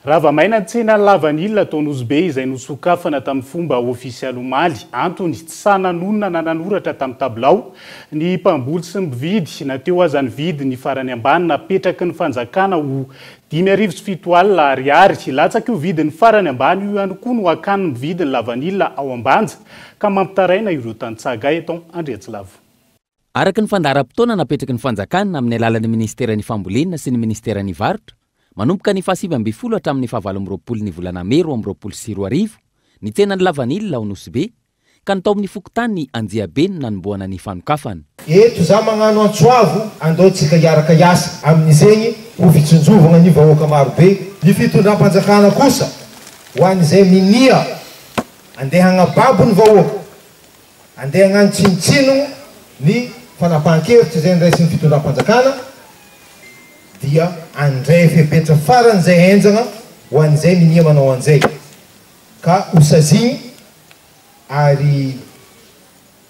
Rava maina ny tsena lavanila tao Nosy-Be izay nosokafana tamin'ny fomba ofisialy omaly. Antony, tsy sahy nanonona na nanoratra tamin'ny tabilao ny mpamboly sy ny mpividy na teo aza ny vidiny farany ambany napetraky ny fanjakana ho dimy arivo sy fito alina ariary. Latsaky io vidiny farany ambany io ihany koa no hakan'ny mpividy ny lavanila ao Ambanja ka mampitaraina ireo tantsaha eto Andriantsilavo. Araka ny fandaharam-potoana napetraky ny fanjakana amin'ny alalan'ny minisiteran'ny Fambolena sy ny minisiteran'ny Varotra, manomboka ny fahasivy ambin'ny folo hatramin'ny fahavalo amby roapolo ny volana mey roa amby roapolo sy roa arivo ny tsenan'ny lavanila ao Nosy-Be ka ny tao amin'ny fokontany Anjiabe no nanombohana ny fanokafana. Eto za magnano antso avo andao tsika hiaraka hiasa amin'izegny ho fitsinjovagna ny vahoaka maro be. Ny fitondram-panjakana kosa ho an'izay minia andeha hagnababo ny vahoaka. Andeha hagnano tsinontsinogno ny fanapahan-kevitra izay noraisin'ny fitondram-panjakana dia handray fepetra faran'izay henjagna ho an'izay minia manao an'izay ka ho sazigny ary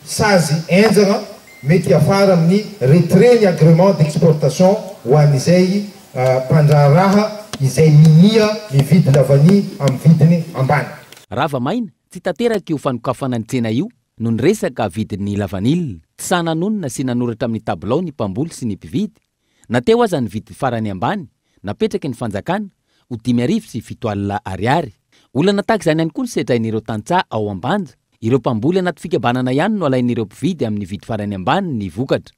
sazy henjagna mety hiafara amin'ny retrait ny agrément d'exportation ho an'izay mpandraharaha izay minia mividy lavania amin'ny vidiny ambany. Rava maina, Tsy tanteraka io fanokafana ny tsena io noho ny resaka vidin'ny lavanila. Tsy sahy nanonona sy nanoratra amin'ny tabilao ny mpamboly sy ny mpividy, na teo aza ny vidiny farany ambany napetraky ny fanjakana ho dimy arivo sy fito alina ariary. Olana tahaka izany ihany koa ny sedrain'ireo tantsaha ao Ambanja. Ireo mpamboly anaty fikambanana ihany no alain'ireo mpividy amin'ny vidy farany ambany ny vokatra.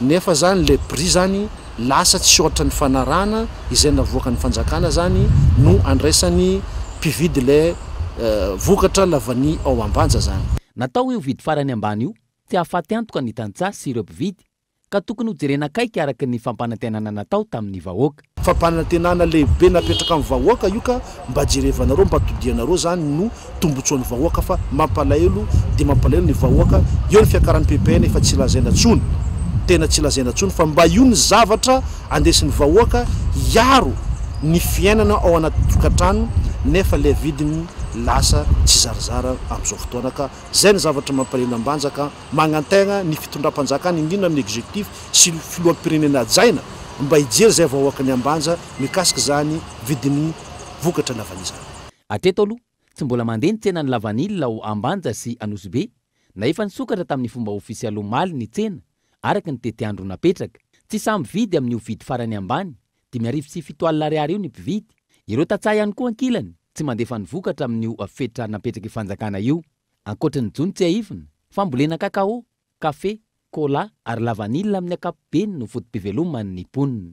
Nefa zany le bri zany lasa tsy ohatra ny fanarahana izay navoakan ny fanjakana zany no andraisany mpividy le vokatra lavani ao ambanja zany. Natao io vidy farany ambany io tsy hahafaty antoka ny tantsaha sy ireo mpividy ka tokony ho jerena akaiky araka ny fampanantenana natao tamin'ny vahoaka. Fampanantenana lehibe napetraka amin'ny vahoaka io ka mba jerevanareo mba todianareo zany no tombotsoan'ny vahoaka fa mampalahelo dia mampalahelo ny vahoaka eo ny fiakaran'ny ppn efa tsy lazaina tsony tena tsy lazaina tsony fa mba io ny zavatra andesin'ny vahoaka hiaro ny fiainana ao anaty tokatrano nefa le vidiny lasa tsizarizara amzao fotoana ka zay ny zavatra mampalahelo ambanjaka Magnantena ny fitondram-panjakana indrindra ny executif sy filoham-pirenena hajaina mba hijery izay vahoaka miambanja mikasika izany vidin'ny vokatra lavanila izany. Hatreto aloha, tsy mbola mandeha ny tsenan'ny lavanila ao Ambanja sy Anosibe na efa nisokatra tamin'ny fomba ofisialy omaly ny tsena araka ny tetiandro napetraka. Tsy sahy mividy amin'io vidy farany ambany dimy arivo sy fito alina ariary io ny mpividy. Ireo tantsaha ihany koa ankilany tsy mandefa ny vokatra amin'io fetra napetrak'i Fanjakana io. Ankoatry ny jono tsiahivina, fambolena cacao, kafe, cola ary lavanila amin'ny ankapobeny no foto-piveloman' ny mponina.